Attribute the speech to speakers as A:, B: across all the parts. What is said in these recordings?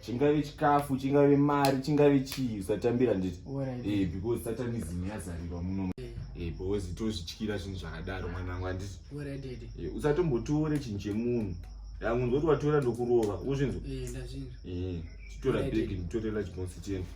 A: chingave
B: chikafu
A: chingave mari chingave chii usatambira nditi eh, because
B: satanism
A: yazarirwa muno eh. eh, because tozvityira zvinhu zvakadaro mwana wangu anditi eh,
B: usatombotore chinhu
A: chemunhu yangu nzoti watora ndokurova uzvinzwa
B: titora bhegi
A: nditorela chibonsi chenu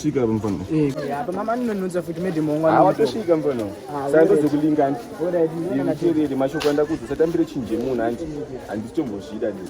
A: watosvika mfana apa mama
B: anononza futi medi mongwa watosvika mfana
A: sando dzekulinga anti nditerere mashoko andakudza satambire chinje munhu anti handisi tombozvida nei